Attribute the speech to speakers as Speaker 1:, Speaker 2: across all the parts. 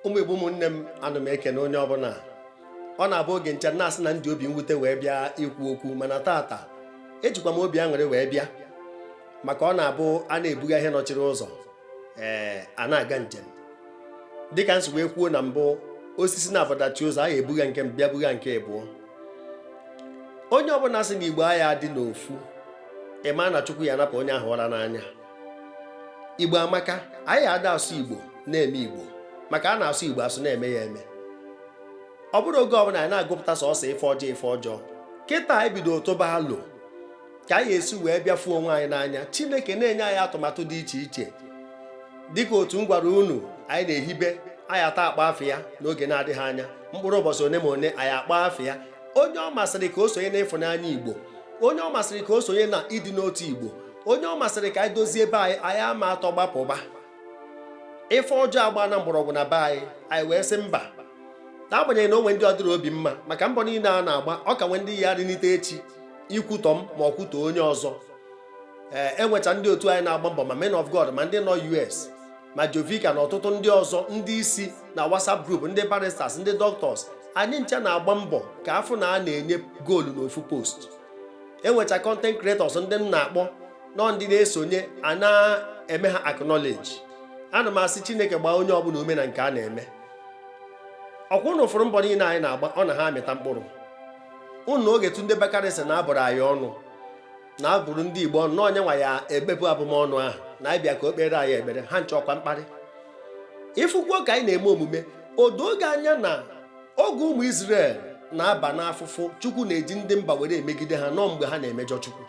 Speaker 1: ụmụ igbo ụmụnne m ana m ekene onye ọbụla ọ na-abụ oge ncha na-asị na m ji obi mwute wee bịa ikwu okwu mana tata ejikwa m obi aṅụrị wee bịa maka ọ na-abụ a na-ebugha ihe nọchiri ụzọ ee a na-aga njem dịka m si wee kwuo na mbụ osisi naabọ dachie ụzọ a ya ebugha nke bịa bugha nke abụọ onye ọbụla sị na igbo aya adị n'ofu ị ma na chukwu ya anapụ onye ahụ ụra n'anya igbo amaka anyị ada asụ igbo na-eme igbo maka a na-asụ igbo asụ na-eme ya eme ọ bụrụ oge ọbụla anyị na-agụpụta sọsọ ife ọjọọ ife ọjọọ kịta anyị bido tụba alo ka anyị esi wee bịa fụ onwe anyị n'anya chineke na-enye anyị atụmatụ dị iche iche dịka otu m gwara unu anyị na-ehibe anyị ata akpọ afa ya n'oge na-adịghị anya mkpụrụ ụbọsị one ma one anyị akpọ afa ya onye ọ masịrị ka o sonye na ịfụnanya igbo onye ọ masịrị ka o sonye na ịdị n'otu igbo onye ọ masịrị ka anyị dozie be anyị anyị ama atọ gbapụba ife ọjọọ agbana mgbọrọgwụ na be anyị anyị wee sị mba n'agbanyeghị na o nwe ndị ọ dịrị obi mma maka mbọ niile a na-agba ọ ka nwe ndị ya rịnite echi ikwutọ m ma ọ kwutọ onye ọzọ ee enwecha ndị otu anyị na-agba mbọ ma men of God ma ndị nọ US ma Jovika na ọtụtụ ndị ọzọ ndị isi na WhatsApp group ndị barristers ndị doctors anyị ncha na-agba mbọ ka a fụ na a na-enye goolu n'ofu post enwecha content creators ndị m na-akpọ nọ ndị na-esonye a na-eme ha acknowledge ana m asị chineke gbaa onye ọbụla ume na nke a na-eme ọkwa ụnụ fụrụ mbọ niile anyị na-agba ọ na ha amịta mkpụrụ n'oge Tunde Bakare sị na a bụrụ anyị ọnụ na a bụrụ ndị Igbo ọnụ na ọ nya nwa ya ebepụ abụmọnụ ahụ na anyị bịa ka o kpeere anyị ekpere ha ncha ọkwa mkparị ị fụkwuo ka anyị na-eme omume o doo gị anya na oge ụmụ Izrel na-aba n'afụfụ Chukwu na-eji ndị mba were emegide ha na ọ mgbe ha na-emejọ Chukwu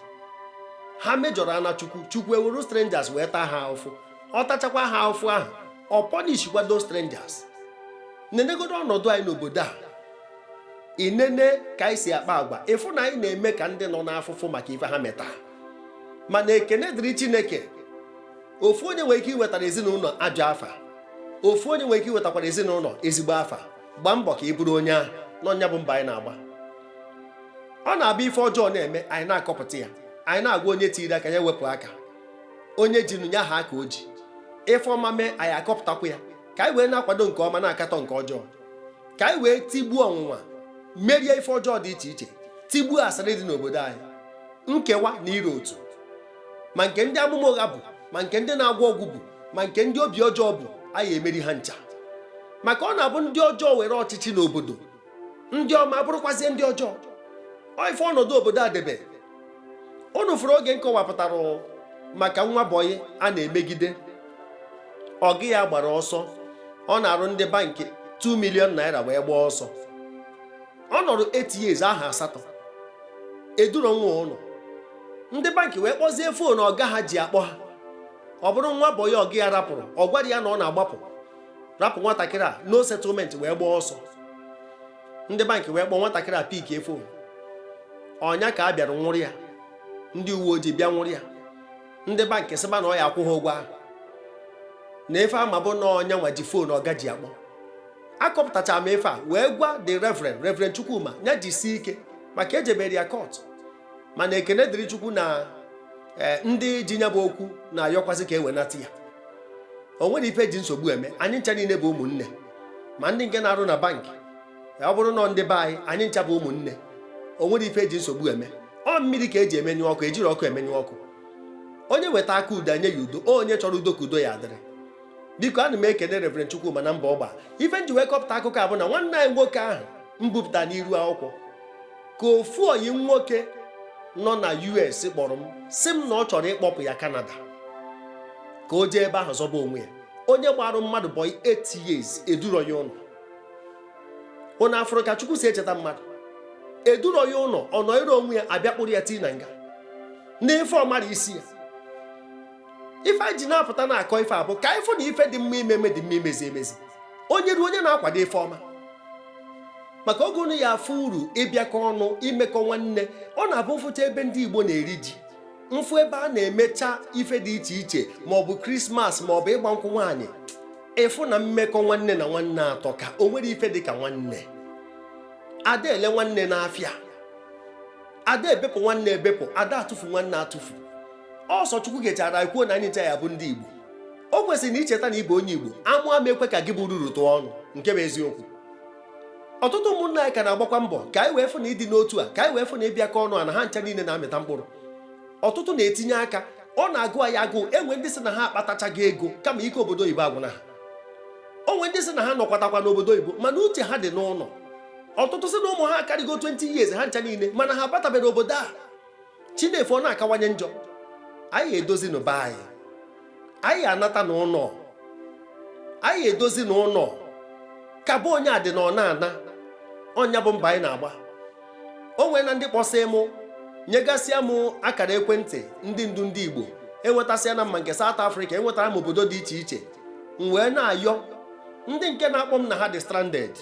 Speaker 1: ha mejọrọ ana Chukwu Chukwu eweru strangers wee taa ha ahụfụ ọ tachakwa ha ahụfụ ahụ ọ punishkwa those strangers nenegodo ọnọdụ anyị n'obodo a i nene ka anyị si akpa agwa ị fụ na anyị na-eme ka ndị nọ n'afụfụ maka ife ha meta mana ekene dịrị Chineke ofu onye nwere ike iwetara ezinụlọ ajọ afa ofu onye nwere ike iwetakwara ezinụlọ ezigbo afa gbaa mbọ ka ị bụrụ onye ahụ na ọ nya bụ mbọ anyị na-agba ọ na-abụ ife ọjọọ na-eme anyị na-akọpụta ya anyị na-agwa onye tiri aka ya wepụ aka onye ji nụ ya haa aka o ji ife ọma mee anyị akọpụtakwa ya ka anyị wee na-akwado nke ọma na-akatọ nke ọjọọ ka anyị wee tigbuo ọnwụnwa merie ife ọjọọ dị iche iche tigbuo asịrị dị n'obodo anyị nkewa na ịrọ otu ma nke ndị amụma ụgha bụ ma nke ndị na-agwọ ọgwụ bụ ma nke ndị obi ọjọọ bụ anyị emeri ha ncha maka ọ na-abụ ndị ọjọọ were ọchịchị n'obodo ndị ọma abụrụkwazie ndị ọjọọ ọ ife ọnọdụ obodo a debe unu fụrụ oge m kọwapụtara maka nwa bọyị a na-emegide ọga ya gbara ọsọ ọ narụ ndị bankị 2 million naira wee gbaa ọsọ ọ nọrọ 8 years ahọ asatọ eduro nwa ụnọ ndị bankị wee kpọzie foonu ọga ha ji akpọ ha ọ bụrụ nwa bọyị ọga ya rapụrụ ọ gwarọ ya na ọ na-agbapụ rapụ nwatakịrị a no settlement wee gbaa ọsọ ndị bankị wee kpọọ nwatakịrị a pikie foonu ọ nya ka a bịara nwụrụ ya ndị uwe ojii bịa nwụrụ ya ndị bankị sịba na ọ ya akwụ ha ụgwọ ahụ na ife a ma bụ na ọ nya nwa ji foonu ọga ji akpọ akọpụtachara m ife a wee gwa the reverend reverend chukwuma ya jisie ike maka ejebere ya kọt mana ekene dịrị chukwu na eh, ndị ji nya bụ okwu na-ayọkwasị ka e wenata ya o nwero ife eji nsogbu eme anyị ncha niile bụ ụmụnne ma ndị nke na-arụ na bankị eh, ọ bụrụ na ndị be anyị anyị ncha bụ ụmụnne o nwero ife eji nsogbu eme ọ mmiri ka eji emenyụ ọkụ ejiro ọkụ emenyụ ọkụ onye weta aka udo nye ya udo onye chọrọ udo ka udo ya adịrị biko ana m ekene Reverend Chukwuma na mbọ ọ gba ife m ji wee kọpụta akụkọ a bụ na nwanne anyị nwoke ahụ m bupụta n'iru akwụkwọ ka ofu ọyị m nwoke nọ na US kpọrọ m sị m na ọ chọrọ ịkpọpụ ya Canada ka o jee ebe ahụ zọba onwe ya onye gbarụ mmadụ bọị 8 years eduro ya ụnọ ụnụ afụrụ ka Chukwu si echeta mmadụ eduro ya ụnọ ọ nọọrọ onwe ya abịa kpụrụ ya tii na nga n'ife ọ marọ isi ya ife anyị ji na-apụta na-akọ ife a bụ ka anyị fụ na ife dị mma ime eme dị mma imezi emezi onye ruo onye na-akwado ife ọma maka oge unu ya afụ uru ịbịakọ ọnụ imekọ nwanne ọ na-abụ m fụcha ebe ndị Igbo na-eri ji m fụ ebe a na-emecha ife dị iche iche ma ọ bụ krismas ma ọ bụ ịgba nkwụ nwaanyị ị fụ na mmekọ nwanne na nwanne atọka o nwero ife dị ka nwanne ada ele nwanne n'afịa ada ebepụ nwanne ebepụ ada atụfu nwanne atụfu ọ sọ chukwu gechara kwuo na anyị ncha ya-abụ ndị igbo o kwesịrị na i cheta na ị bụ onye igbo amụ ama ekwe ka gị bụ ruru tụọ ọnụ nke bụ eziokwu ọtụtụ ụmụnna anyị ka na-agbakwa mbọ ka anyị wee fụ na ịdị n'otu a ka anyị wee fụ na ịbịakọ ọnụ a na ha ncha niile na-amịta mkpụrụ ọtụtụ na-etinye aka ọ na-agụ anyị agụụ e nwe ndị sị na ha akpatachaghị ego kama ike obodo oyibo agwụna ha o nwe ndị sị na ha nọkwatakwa n'obodo oyibo mana uche ha dị n'ụnọ ọtụtụ sị na ụmụ ha akarịgo 20 years ha ncha niile mana ha abataberọ obodo a chi na-efo ọ na-akawanye njọ anyị edozinụ be anyị anyị anata na ụlọ anyị edozinụ ụlọ ka bụ onye adị na ọ na-ana ọ nya bụ mbọ anyị na-agba o nweena ndị kpọsịị mụ nyegasịa m akara ekwentị ndị ndu ndị Igbo enwetasịana m ma nke South Africa enwetara m obodo dị iche iche m wee na-ayọ ndị nke na-akpọ m na ha dị stranded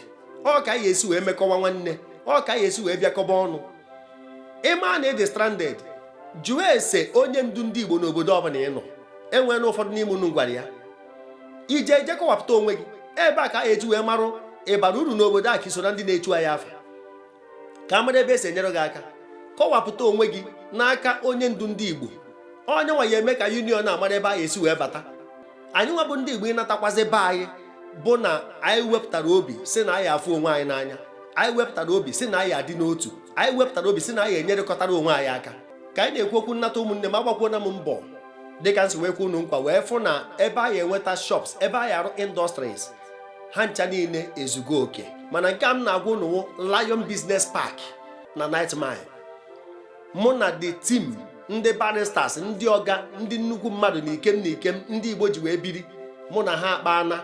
Speaker 1: ọ ka a ya-esi wee mekọwa nwanne ọ ka a ya-esi wee bịakọba ọnụ ị ma na ị dị stranded jụọ ese onye ndu ndị Igbo n'obodo ọbụla ị nọ e nweena ụfọdụ n'ime unu gwara ya ije eje kọwapụta onwe gị ebe a ka a ya-eji wee marụ ị bara uru n'obodo a ka i so na ndị na-echu anyị afa ka a mara ebe e si enyere gị aka kọwapụta onwe gị n'aka onye ndu ndị Igbo ọ nya nwa ya-eme ka union a mara ebe a ya-esi wee bata anyị nwa bụ ndị Igbo ịnatakwazi be anyị bụ na anyị wepụtara obi sị na anyị afụ onwe anyị n'anya anyị wepụtara obi sị na anyị adị n'otu anyị wepụtara obi sị na anyị enyerekọtara onwe anyị aka ka anyị na-ekwu okwu nnata ụmụnne m agbakwuona m mbọ dịka m si wee kwe unu nkwa wee fụ na ebe a ya-enweta shops ebe a ya-arụ industries ha ncha niile ezugo oke mana nke a m na-agwa unu Lion Business Park na 9th Mile mụ na the team ndị barristers ndị ọga ndị nnukwu mmadụ na ikem na ikem ndị Igbo ji wee biri mụ na ha akpaana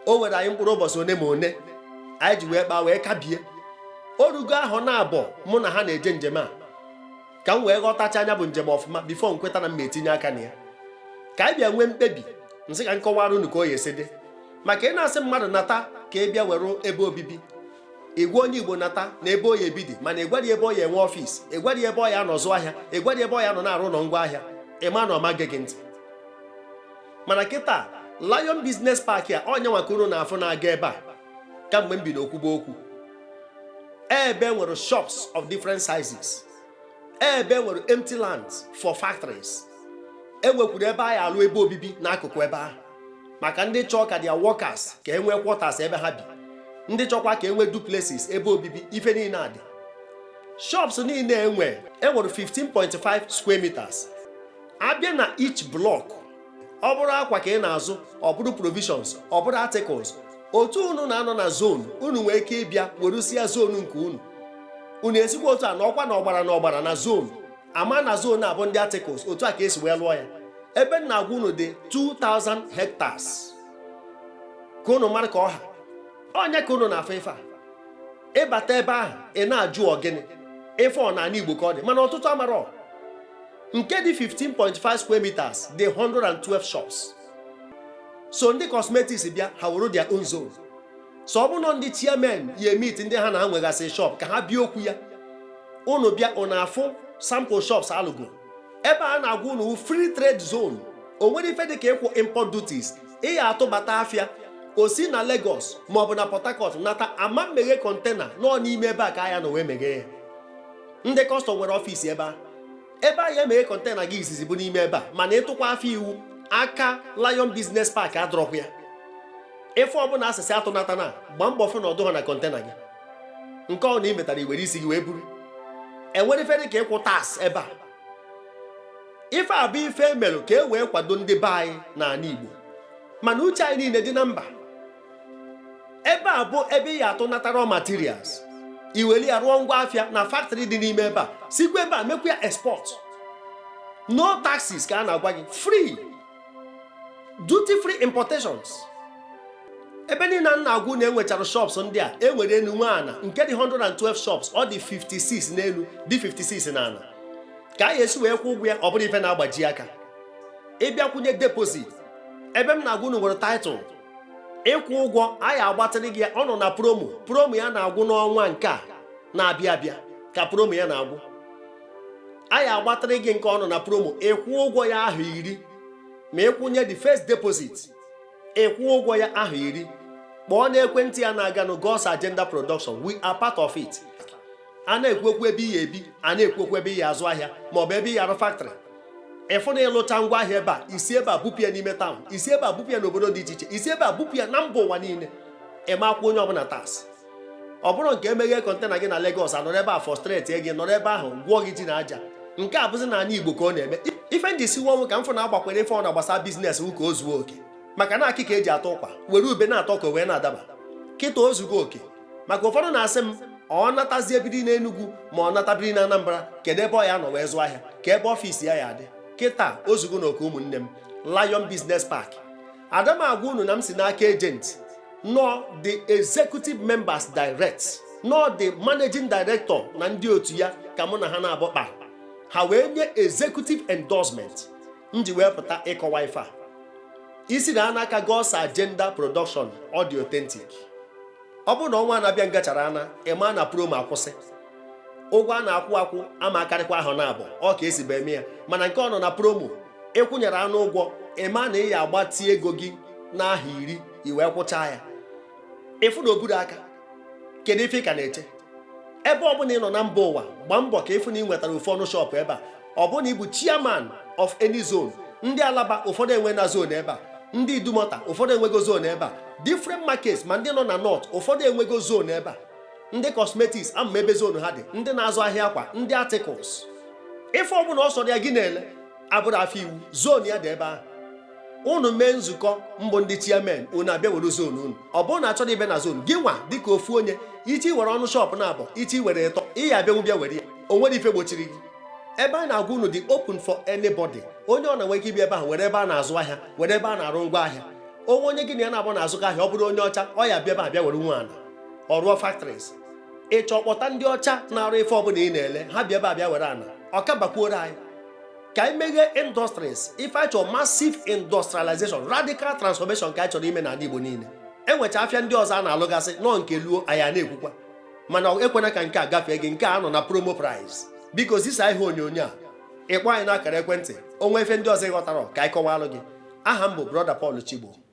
Speaker 1: o were anyị mkpụrụ ụbọchị one ma one anyị ji wee kpaa wee kabie o rugo ahọ naabọ mụ na ha na-eje njem a ka m wee ghọtachaa nya bụ njem ọfụma before m kweta na m etinye aka na ya ka anyị bịa nwee mkpebi m sị ka m kọwaara unu ka ọ ya-esi dị maka ị na-asị mmadụ nata ka ị bịa were ebe obibi ị gwa onye Igbo nata na ebe ọ ya-ebi dị mana ị gwarọ ya ebe ọ ya-enwe office ị gwarọ ya ebe ọ ya-anọ zụ ahịa ị gwarọ ya ebe ọ ya-anọ na-arụ ụlọ ngwa ahịa ị ma na ọ ma-ege gị ntị mana kịta Lion Business Park a ọ nya nwa ka unu na-afụ na-aga ebe a kamgbe m bido kwuba okwu ebe e nwere shops of different sizes ebe e nwere empty lands for factories e nwekwuru ebe a ya-alụ ebe obibi n'akụkụ ebe ahụ maka ndị chọọ ka their workers ka e nwee quarters ebe ha bi ndị chọkwa ka e nwee duplexes ebe obibi ife niile a dị shops niile e nwee e nwere 15.5 square meters a bịa na each block ọ bụrụ akwa ka ị na-azụ ọ bụrụ provisions ọ bụrụ articles otu unu na-anọ na zone unu nwee ike ịbịa werusịa zone nke unu unu esikwa otu a nọkwa n'ọgbara n'ọgbara na zone a ma na zone a bụ ndị articles otu a ka e si wee lụọ ya ebe m na-agwa unu dị 2000 hectares ka unu mara ka ọ ha ọ nya ka unu na-afụ ife a ị bata ebe ahụ ị na-ajụ ọ gịnị ife ọ n'ana Igbo ka ọ dị mana ọtụtụ amarọ nke dị 15.5 square meters dị 112 shops so ndị cosmetics bịa ha were their own zone so ọ bụrụ ndị chairman ya meet ndị ha na-anwegasị shop ka ha bịa okwu ya unu bịa unu afụ sample shops alụgo ebe a na-agwa unu free trade zone o nwerọ ife dịka ịkwụ import duties ị ya atụbata afịa o si na Lagos maọbụ na Port Harcourt nata a ma emeghe kọntena no n'ime ebe a ka a ya anọ wee meghee ya ndị kọstọm nwere ọfiisi ebe a ebe a ya emeghe kọntena gị izizi bụ n'ime ebe a mana ị tụkwa afịa iwu aka Lion Business Park adọrọkwa ya ife ọbụla a sị sị atụnatana gbaa mbọ fụ na ọ dụhọ na kọntena gị nke ọbụna i metara i were isi gị wee buru e nwerọ ife dị ka ịkwụ tax ebe a ife a bụ ife e melụ ka e wee kwado ndị be anyị n'ala Igbo mana uche anyị niile dị na mba ebe a bụ ebe ị ya atụnata raw materials i weli ya rụọ ngwa afịa na factory dị n'ime ebe a sikwa ebe a mekwa ya export no taxes ka a na-agwa gị free duty free importations ebe niile a na-agwa unu e nwechara shops ndị a e nwere enu nwee ana nke dị 112 shops ọ dị 56 n'elu dị 56 n'ana ka a ya esi wee kwụ ụgwọ ya ọ bụrọ ife na-agbaji aka ị bịa kwụnye deposit ebe m na-agwa unu nwere title ịkwụ ụgwọ anyị agbatịrị gị ya ọ nọ na promo promo ya na-agwụ n'ọnwa nke a na-abịa abịa ka promo ya na-agwụ anyị agbatịrị gị nke ọ nọ na promo ịkwụ ụgwọ ya ahọ iri ma ị kwụnye the first deposit ịkwụ ụgwọ ya ahọ iri kpọọ n'ekwentị ya na-aganụ God's Agenda Production we are part of it a na-ekwu okwu ebe ị ya ebi a na-ekwu okwu ebe ị ya azụ ahịa ma ọ bụ ebe ị ya arụ factory ị fụ na ị lụcha ngwa ahịa ebe a i si ebe a bupụ ya n'ime town i si ebe a bupụ ya n'obodo dị iche iche i si ebe a bupụ ya na mba ụwa niile ị ma akwụ onye ọbụla tax ọ bụrọ nke e meghee kọntena gị na Lagos a nọrọ ebe a frustrate gị nọrọ ebe ahụ gwọọ gị ji na aja nke a bụzi n'ana Igbo ka ọ na-eme ife ndị si nwa ka m fụ na-agbakwere ife ọbụna gbasa business wụ ka o zuo oke maka na akịka e ji atọ ụkwa were ube na-atọ ka o wee na-adaba kịta o zugo oke maka ụfọdụ na-asị m ọ natazie biri n'Enugwu ma ọ nata biri na Anambra kedu ebe ọ ya anọ wee zụọ ahịa ka ebe ọfịs ya ya adị kịta o zugonụ oke ụmụnne m Lion Business Park ada m agwa unu na m si n'aka agent no the executive members direct no the managing director na ndị otu ya ka mụ na ha naabọ kpaa ha wee nye executive endorsement m ji wee pụta ịkọwa ife a isi na ana aka God's Agenda Production audio authentic ọ bụrụ na ọnwa na-abịa ngachara ana ị ma na promo akwụsị ụgwọ a na-akwụ akwụ ama akarịkwa ahọ naabọ ka e sibu eme ya mana nke ọ nọ na promo ị kwụnyere anụ ụgwọ ị ma na ị ya agbatị ego gị n'ahọ iri i wee kwụchaa ya ị fụ na oburu aka kedu ife ị ka na-eche ebe ọ bụla ị nọ na mba ụwa gbaa mbọ ka ị fụ na ị nwetara ofu ọnụ shọpụ ebe a ọ bụrụ na ị bụ chairman of any zone ndị alaba ụfọdụ enweena zone ebe a ndị idumọta ụfọdụ enwego zone ebe a different markets ma ndị nọ na north ụfọdụ enwego zone ebe a ndị cosmetics ama m ebe zone ha dị ndị na-azụ ahịa akwa ndị articles ife ọbụla ọ sọrọ ya gị na-ele abụrọ afịa iwu zone ya dị ebe ahụ unu mee nzukọ mbụ ndị chairman unu abịa were zone unu ọ bụrụ na achọrọ ibe na zone gị nwa dịka ofu onye ị chọọ iwere ọnụ shọpụ naabọ ị chọọ iwere ịtọ ị ya-abịanwu bịa were ya o nwerọ ife gbochiri gị ebe a na-agwa unu dị open for anybody onye ọbụna nwere ike ibi ebe ahụ were ebe a na-azụ ahịa were ebe a na-arụ ngwa ahịa o nwee onye gị na ya naabọ na-azụkọ ahịa ọ bụrụ onye ọcha ọ ya-abịa ebe a bịa were nwee ana ọ rụọ factories ị chọọ kpọta ndị ọcha na-arụ ife ọbụla ị na-ele ha bịa ebe a bịa were ana ọ ka bakwuoro anyị ka anyị meghee industries ife anyị chọrọ massive industrialization radical transformation ka anyị chọrọ ime n'ana Igbo niile e nwechaa afịa ndị ọzọ a na-alụgasị nọ nke luo anyị a na-ekwukwa mana ekwena ka nke a gafee gị nke a nọ na promo price biko zisa ihe onyonyo a ị kpọọ anyị n'akara ekwentị o nwee ife ndị ọzọ ị ghọtarọ ka anyị kọwalụ gị aha m bụ brọda Paul Chigbo